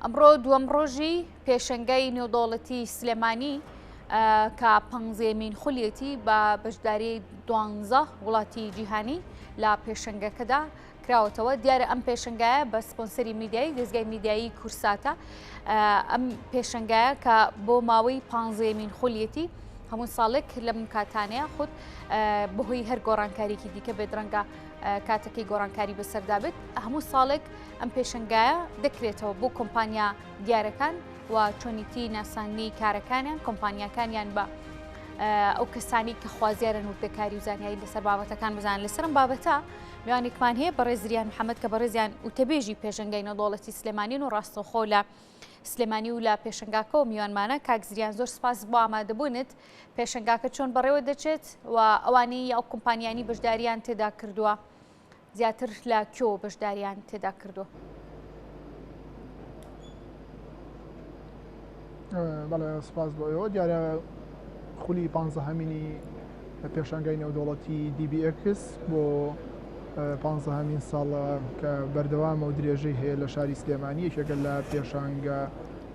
ئەمڕۆ دووەم ڕۆژی پێشنگای نێودەوڵەتی سلێمانی کە پەنجێمین خولیەتی بە بەشداری دوانزە وڵاتی جیهانی لە پێشنگەکەدا کراوەتەوە دیارە ئەم پێشنگایە بە سپۆنسەری میدیایی دەستگای میدیایی کورساتە ئەم پێشنگایە کە بۆ ماوەی پانزێمین خولیەتی هەموو ساڵێک لەم کاتانەیە خود بەهۆی هەر گۆڕانکاریکی دیکە بێدرەنگە کاتەکەی گۆڕانکاری بەسەردا بێت هەموو ساڵێک ئەم پێشنگایە دەکرێتەوە بۆ کۆمپانیا دیارەکان و چۆنیتی ناسانی کارەکانیان کۆمپانیاکانیان بە ئەو کەسانی کە خوازیارن وردەکاری و زانیاری لەسەر بابەتەکان بزان لەسرم بابەتە میوانێکمان هەیە بەڕێزریان محەممەد کە بەڕێزیان وتەبێژی پێشنگای نەدۆڵەتی سلێمانین و ڕاستەوخۆ لە سلێمانی و لە پێشنگاکەەوە میوانمانە کاکزریان زۆر سپاس بۆ ئامادەبوونت پێشنگاکە چۆن بەڕێوە دەچێت و ئەوانەی یاو کۆمپانیانی بەشداریان تێدا کردووە زیاتر لە کوێوە بەشداریان تێدا کردووە؟ بەڵێ سپاس بۆ ئێوە دیارە خولی پ هەمینی لە پێشانگای نێودوڵەتی دیBX بۆ پ هەمین ساڵە کە بەردەوامە و درێژەی هەیە لە شاری سلێمانی یەکێکە لە پێشانگە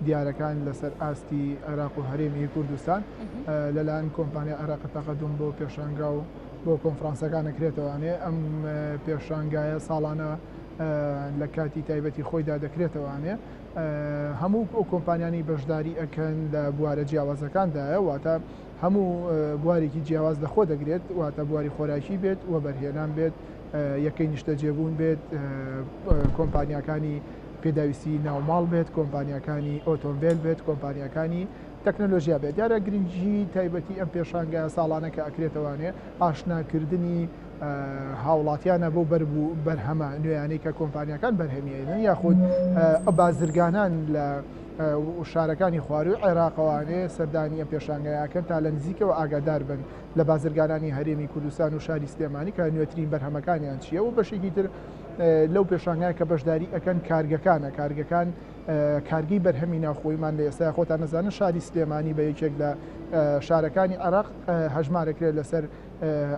دیارەکان لەسەر ئاستی عێراق و هەرێمی کوردستان لەلاەن کۆمپانیا عێراق تەقەدم بۆ پێشانگا و بۆ کۆنفرانسەکان ئەکرێتەوە ئەێ ئەم پێشانگایە ساڵانە لە کاتی تایبەتی خۆیدا دەکرێتەوە ئەێ هەموو ئەو کۆمپانیانی بەشداری ئەکەن لە بوارە جیاوازەکاندایە واتە هەموو بوارێکی جیاواز لەخۆ دەگرێت واتە بواری خۆراکی بێت و بەرهێنان بێت یەکەی نیشتەجێبوون بێت کۆمپانیەکانی پێداویستی ناوماڵ بێت کۆمپانیەکانی ئۆتۆمبیل بێت کۆمپانیەکانی تەکنەلۆژیا بێت دیارە گرنگی تایبەتی ئەم پێشانگایە ساڵانە کە ئەکرێتەوانێ ئاشناکردنی هاوڵاتیانە بۆ بەر بوو بەرهەمە نوێیانەی کە کۆمپانیەکان بەرهەمیێنن یاخود بازرگانان لە شارەکانی خواروی عێراقوانێ سەردانی ئەم پێشانگایەکەن تا لە نزیکەوە ئاگادار بن لە بازرگانانی هەرێمی کوردستان و شاری سلێمانی کە نوێترین بەرهەمەکانیان چیە و بەشێکی تر لەو پێشانگای کە بەشداری ئەەکەن کارگەکانە کارگەکان کارگەی بەرهەمی ناوخۆیمان لە ئێستای خۆتان ئەزانن شاری سلێمانی بە یەکێک لە شارەکانی عێراق هەژمارەکرێت لەسەر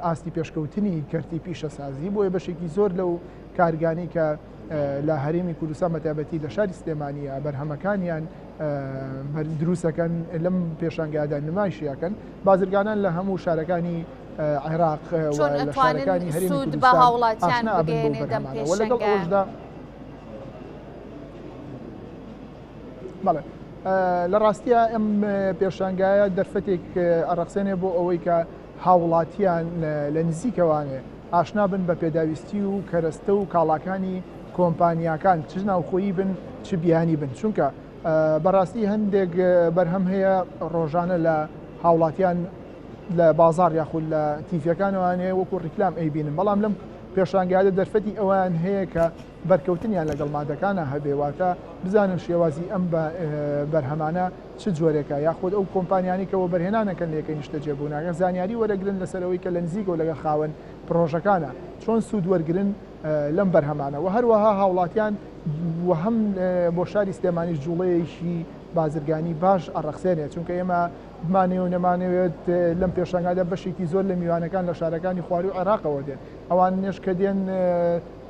ئاستی پێشکەوتنی کەرتی پیشەسازی بۆیە بەشێکی زۆر لەو کارگانی کە لە هەرێمی کوردستان بەتابەتی لە شاری سلێمانیە بەرهەمەکانیان دروستەکەن لەم پێشانگادا نمایشیەکەن بازرگانان لە هەموو شارەکانی عێراق لە شارەکانی هەرێمی کوردستان ئاشنا بن بەو بەرهەمانە وە لەگەڵ ئەوەشدا بەڵێ لە ڕاستیە ئەم پێشانگایە دەرفەتێک ئەڕەخسێنێ بۆ ئەوەی کە هاوڵاتیان لە نزیکەوانێ ئاشنا بن بە پێداویستی و کەرەستە و کاڵاکانی کۆمپانیاکان چ ناوخۆیی بن چ بیانی بن چونکە بەڕاستی هەندێک بەرهەم هەیە ڕۆژانە لە هاوڵاتیان لە بازاڕ یاخود لە تیڤەکانەوەیان هەیە وەکو ڕیکلام ئەیبینن بەڵام لەم پێشانگایە دەرفەتی ئەوان هەیە کە بەرکەوتنیان لەگەڵ مادەکانە هەبێواتە بزانن شێوازی ئەم بەرهەمانە چ جۆرێکە یاخود ئەو کۆمپانیانی کە وەبەرهێنانەکەن لەکە نیشتە جێبووناگە زانیاری وەرەگرن لەسەرەوەی کە لە نزیکەوە لەگە خاوەن پرۆژەکانە چۆن سوود وەرگن لەم بەرهەمانە و هەروەها هاوڵاتیان و هەم بۆ شاری سلێمانی جوڵەیەکی بازرگانی باش ئەڕەخسێنێ چونکە ئێمە بمانەوێ و نەمانەوێت لەم پێشانگادا بەشێکی زۆر لە میوانەکان لە شارەکانی خواروی عێراقەوە دێن ئەوان نێش کە دێن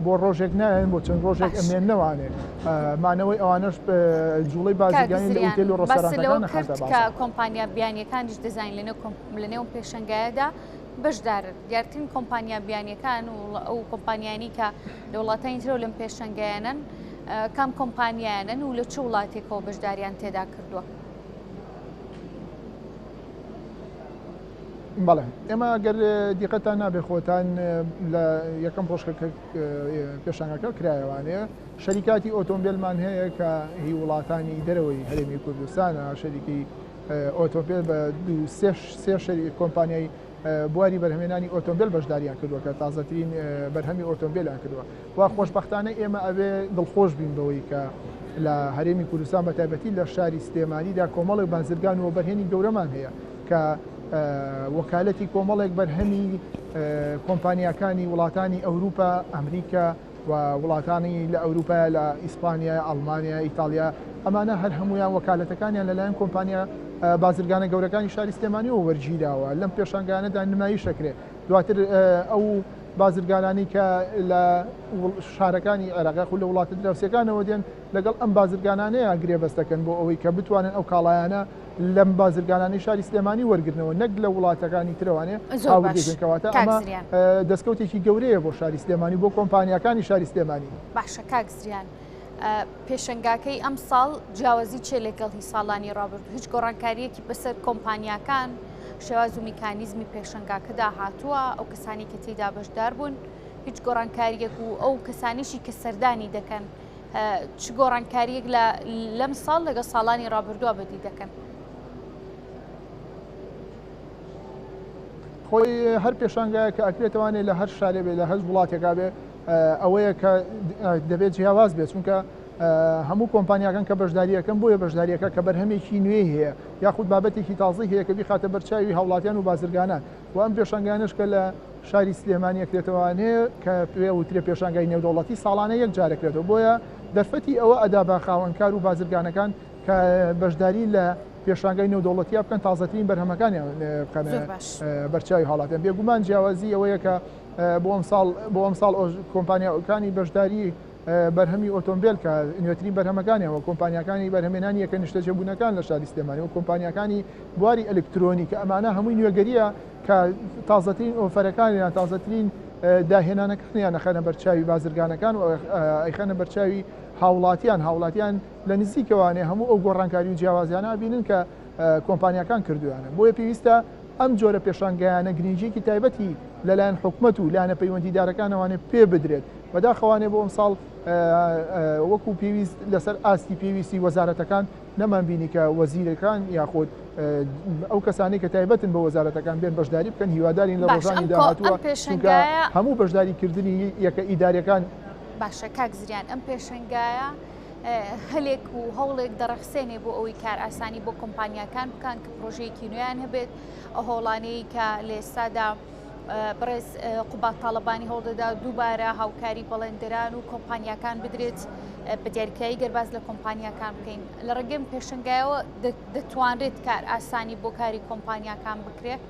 بۆ ڕۆژێک نایەن بۆ چەند ڕۆژێک ئەمێن نەوانێ مانەوەی ئەوانش جوڵی بازرگانی لە ئوتێل و ڕۆستەرانەکان کرد کە کۆمپانیا بیانیەکانیش دەزانین لەنێو لەنێو پێشنگایەدا بەشدار دیارترین کۆمپانیا بیانیەکان و ئەو کۆمپانیانی کە لە وڵاتانی ترەوە لەم پێشنگایانن کام کۆمپانیانن و لە چ وڵاتێکەوە بەشداریان تێدا کردووە. بەڵێ ئێمە گەر دیقەتان نابێ خۆتان لە یەکەم ڕۆژکە پێشانگەکە کرایەوانەیە شەریکاتی ئۆتۆمبیلمان هەیە کە هی وڵاتانی دەرەوەی هەرێمی کوردستانە شەریکی ئۆتۆمبیل بە دو سێ شەری کۆمپانیای بواری بەرهمێنانی ئۆتۆمبیل بەشداریان کردووە کە تازەترین بەرهەمی ئۆتۆمبیلیان کردووە و خۆشبەختانە ئێمە ئەبێ دڵخۆش بین بەوەی کە لە هەرێمی کوردستان بە تایبەتی لە شاری سلێمانیدا کۆمەڵێک بازرگان و وەبەرهێنی گەورەمان هەیە کە وەکالەتی کۆمەڵێک بەرهەمی کۆمپانیاکانی وڵاتانی ئەوروپا ئەمریکا و وڵاتانی لە ئەوروپا لە ئیسپانیا ئەڵمانیا ئیتالیا ئەمانە هەر هەمویان وەکالەتەکانیان لەلایەن کۆمپانیا بازرگانە گەورەکانی شاری سلێمانیەوە وەرگیراوە لەم پێشنگانەدا نمایش دەکرێت دواتر ئەو بازرگانانی کە لە شارەکانی عێراق یاخود لە وڵاتە دراوسێکانەوە دێن لەگەڵ ئەم بازرگانانەیە گرێبەست دەکەن بۆ ئەوەی کە بتوانن ئەو کاڵایانە لەم بازرگانانی شاری سلێمانی وەرگرنەوە نەک لە وڵاتەکانی ترەوانێ هاوردێکەوەتە ئەمە دەستکەوتێکی گەورەیە بۆ شاری سلێمانی بۆ کۆمپانیەکانی شاری سلێمانی باشە کاک زریان. پێشنگاکەی ئەم ساڵ جیاوازی چێ لەگەڵ هی ساڵانی ڕابرد هیچ گۆڕانکاریەکی بەسەر کۆمپانیاکان شێواز و میکانیزمی پێشنگاکەدا هاتووە ئەو کەسانی کە تێدا بەشدار بوون هیچ گۆڕانکاریەک و ئەو کەسانیشی کە سەردانی دەکەن چ گۆڕانکاریەک لە لەم ساڵ لەگە ساڵانی ڕابردووە بەدی دەکەن. خۆی هەر پێشانگایە کە ئەکرێتوانێت لە هەر شارێ بێ لە هەر وڵاتێکا بێ ئەوەیە کە دەبێت جیاواز بێت چونکە هەموو کۆمپانیاکان کە بەشداریەکەم بۆیە بەشداریەکە کە بەرهەمێکی نوێ هەیە یاخود بابەتێکی تازی هەیە کە بیخاتە بەرچاوی هاوڵاتیان و بازرگانان و ئەم پێشنگانش کە لە شاری سلێمانیەکرێتەوانێ کە پێ وترێ پێشنگای نێودەوڵەتی ساڵانە یەک جارەکرێتەوە بۆیە دەرفەتی ئەوە ئەدا بە خاوەنکار و بازرگانەکان کە بەشداری لە پێشانگای نێودەوڵەتی بکەن تازەترین بەرهەمەکانیان بکەن بەرچوی هاڵاتیان بێگومان جیاوازی ئەوەیە کە بۆ ئەمساڵ بۆ ئەمساڵ کۆمپانیاکانی بەشداری بەرهەمی ئۆتۆمبیل کە نوێترین بەرهەمەکانیەوە کۆمپانیەکانی بەرهەمێنانی یەکە نیشتەجێ بوونەکان لە شاری سلێمانی و کۆمپانیەکانی بواری ئەلکترۆنی کە ئەمانە هەمووی نوێگەریە کە تازەترین ئۆفەرەکانیان تازەترین داهێنانەکانیان نەخەنە بەرچاوی بازرگانەکان و ئەیخەنە بەرچاوی هاوڵاتیان هاوڵاتیان لە نزیکەوانێ هەموو ئەو گۆڕانکاری و جیاوازیانە بینن کە کۆمپانیاکان کردوویانە، بۆیە پێویستە ئەم جۆرە پێشانگایانە گرنگییەکی تایبەتی لەلایەن حکومەت و لایەنە پەیوەندیدارەکانەوانێ پێ بدرێت، بەداخەوانێ بۆ ئەمساڵ وەکو پێویست لەسەر ئاستی پێویستی وەزارەتەکان نەمانبینی کە وەزیرەکان یاخود ئەو کەسانەی کە تایبەتن بە وەزارەتەکان بێن بەشداری بکەن هیوادارین لە ڕۆژانی داهاتووە پێشنگە هەموو بەشداریکردنی یەکە ئیدارەکان باشە کاک زریان ئەم پێشنگایە هەلێک و هەوڵێک دەڕەخسێنێ بۆ ئەوەی کار ئاسانی بۆ کۆمپانیاکان بکان کە پرۆژەیەکی نوێیان هەبێت ئە هۆڵانەیە کە لە ئێستادا بڕێز قوبات تاالبانی هەوڵدەدا دووبارە هاوکاری بەڵێندران و کۆمپانیاکان بدرێت بە دیارکایی گەرباز لە کۆمپانیاکان بکەین لە ڕێگەم پێشنگایەوە دەتوانرێت کار ئاسانی بۆ کاری کۆمپانیاکان بکرێت.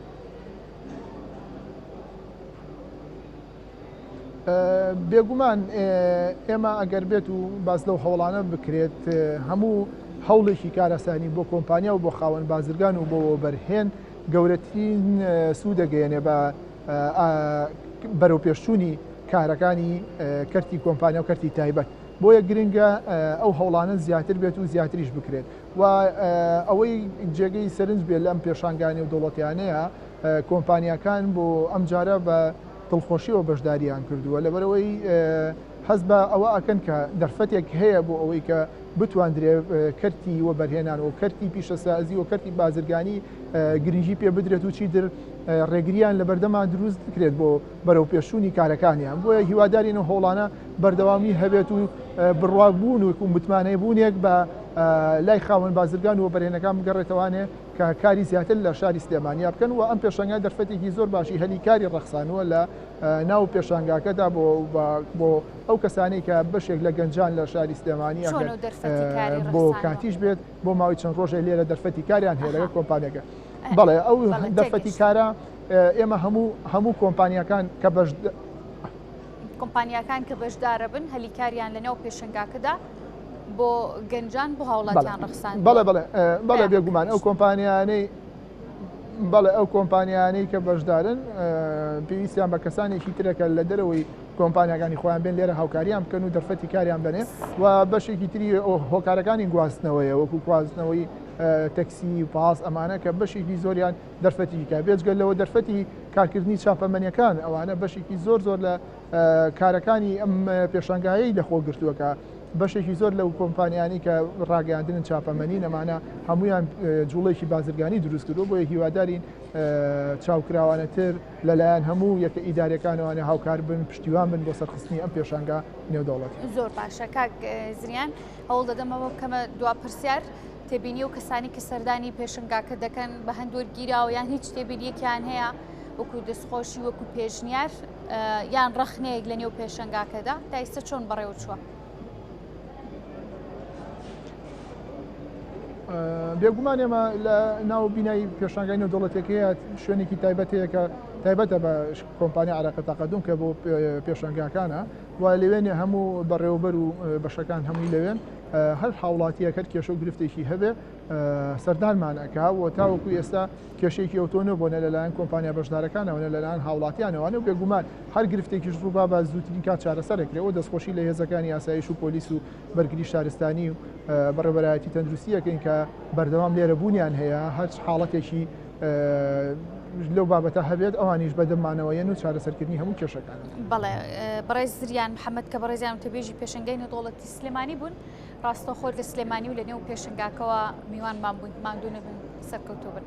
بێگومان ئێمە ئەگەر بێت و باز لەو هەوڵانە بکرێت هەموو هەوڵێکی کارەسانی بۆ کۆمپانیا و بۆ خاوەن بازرگان و بۆ بەرهێن گەورەترین سوودەگەیەنێ بە بەرەو پێشچوونی کارەکانی کەرتی کۆمپانیا و کەرتی تایبەت بۆیە گرنگە ئەو هەوڵانە زیاتر بێت و زیاتریش بکرێت و ئەوەی جێگەی سەرنج بێت لەم پێشانگانی و دەوڵەتیانەیە کۆمپانیاکان بۆ ئەم جارە بە دڵخۆشیەوە بەشداریان کردووە لەبەرئەوەی هەست بە ئەوە ئەکەن کە دەرفەتێک هەیە بۆ ئەوەی کە بتواندرێ کەرتی وەبەرهێنان و کەرتی پیشەسازی و کەرتی بازرگانی گرنگی پێ بدرێت و چیتر ڕێگریان لە بەردەما دروست بکرێت بۆ بەرەو پێشوونی کارەکانیان بۆیە هیوادارین و هۆڵانە بەردەوامی هەبێت و بڕوابوون و متمانەی بوونێک بە لای خاوەن بازرگان و بەرێنەکان بگەڕێتەوانێ کە کاری زیاتر لە شاری سلێمانیا بکەن و ئەم پێشانگا دەرفەتێکی زۆر باشی هەلی کاری ڕەخسانووە لە ناو پێشانگاکەدا بۆ ئەو کەسانی کە بەشێک لە گەنجان لە شاری سلێمانی بۆ کاتیش بێت بۆ ماوەی چەند ڕۆژێک لێرە دەرفەتی کاریان هەیە لەگە کۆمپانیەکە بەڵێ ئەو دەرفەتی کارە ئێمە هەموو هەموو کۆمپانیەکان کە بەش کۆمپانیاکان کە بەشدارەبن هەلی کاریان لەناو پێشنگاکەدا بۆ گەنجان بۆ هاوڵاتیان ڕخسان بەڵێ بڵێ بەڵێ بێگومان ئەو کۆمپانیانەی بەڵێ ئەو کۆمپانیانەی کە بەشدارن پێویستیان بە کەسانێکی ترەکە لە دەرەوەی کۆمپانیەکانی خۆیان بێن لێرە هاوکاریان بکەن و دەرفەتی کاریان بنێ و بەشێکی تری هۆکارەکانی گواستنەوەیە وەکو گواستنەوەی تەکسی پاس ئەمانە کە بەشێکی زۆریان دەرفەتیکی کار بێجگە لەوە دەرفەتی کارکردنی چاپەمەنیەکان ئەوانە بەشێکی زۆر زۆر لە کارەکانی ئەم پێشنگایەی لەخۆ گرتووەکە بەشێکی زۆر لەو کۆمپانیانی کە ڕاگەاندنن چاپەمەنی نەمانە هەمویان جوڵێکی بازرگانی دروست کردو بۆیە هیوادارین چاوکراوانەتر لەلایەن هەموو یەکە ئیدارەکانوانە هاوکار بن پشتیوان بن بۆ سەرخستنی ئەم پێشنگا نێودەوڵەت زۆر باشە کاک زریان هەوڵ دەدەمەوە بکەمە دوا پرسیار. تێبینی و کەسانی کە سەردانی پێشنگاکە دەکەن بە هەندوەر گیراوە یان هیچ تێبینیەکیان هەیە وەکو دەستخۆشی وەکو پێشنیار یان ڕەخنەیەک لە نێو پێشنگاکەدا تا ئیستا چۆن بەڕێوە چووە. بێگومان ئێمە لە ناو بینای پێشانگای نەودەوڵەتەکەیە شوێنێکی تایبەتەیەکە تایبەتە بە کۆمپانیا عراقە تاقدون کە بۆ پێشنگاکانە و لەوێنێ هەموو بەڕێوەبەر و بەشەکان هەمووی لەوێن هەر هاوڵاتیەک هەر کێشە و گرفتێکی هەبێ سەردانمان ئەکا و تاوەکو ئێستا کێشێکی ئەوتۆ نەبوونە لەلایەن کۆمپانیا بەشدارەکانەوە لەلایەن هاوڵاتیانەوەە و بێگومان هەر گرفتێکیش ڕووبا بە زووترین کات چارەسەرکرێەوە دەستخۆشی لە هێزەکانی ئاسایش و پۆلیس و بەرگری شارستانی و بەڕێبەرایەتی تەندروستیەکەین کە بەردەوام لێرە بوونیان هەیە هەر حاڵەتێکی لەو بابەتە هەبێت ئەوانیش بەدەمانەوە یەن و چارەسەرکردنی هەموو کێشەکان بەڵێ بەڕێز زریان محەممەد کە بەڕێزیان تەبێژی پێشنگەی نەدۆڵەتی سلێمانی بوون ڕاستەخۆ لە سلێمانی و لە نێو پێشنگاکەوە میوانمان بوون ماندوو نەبن سەرکەوتوو بن.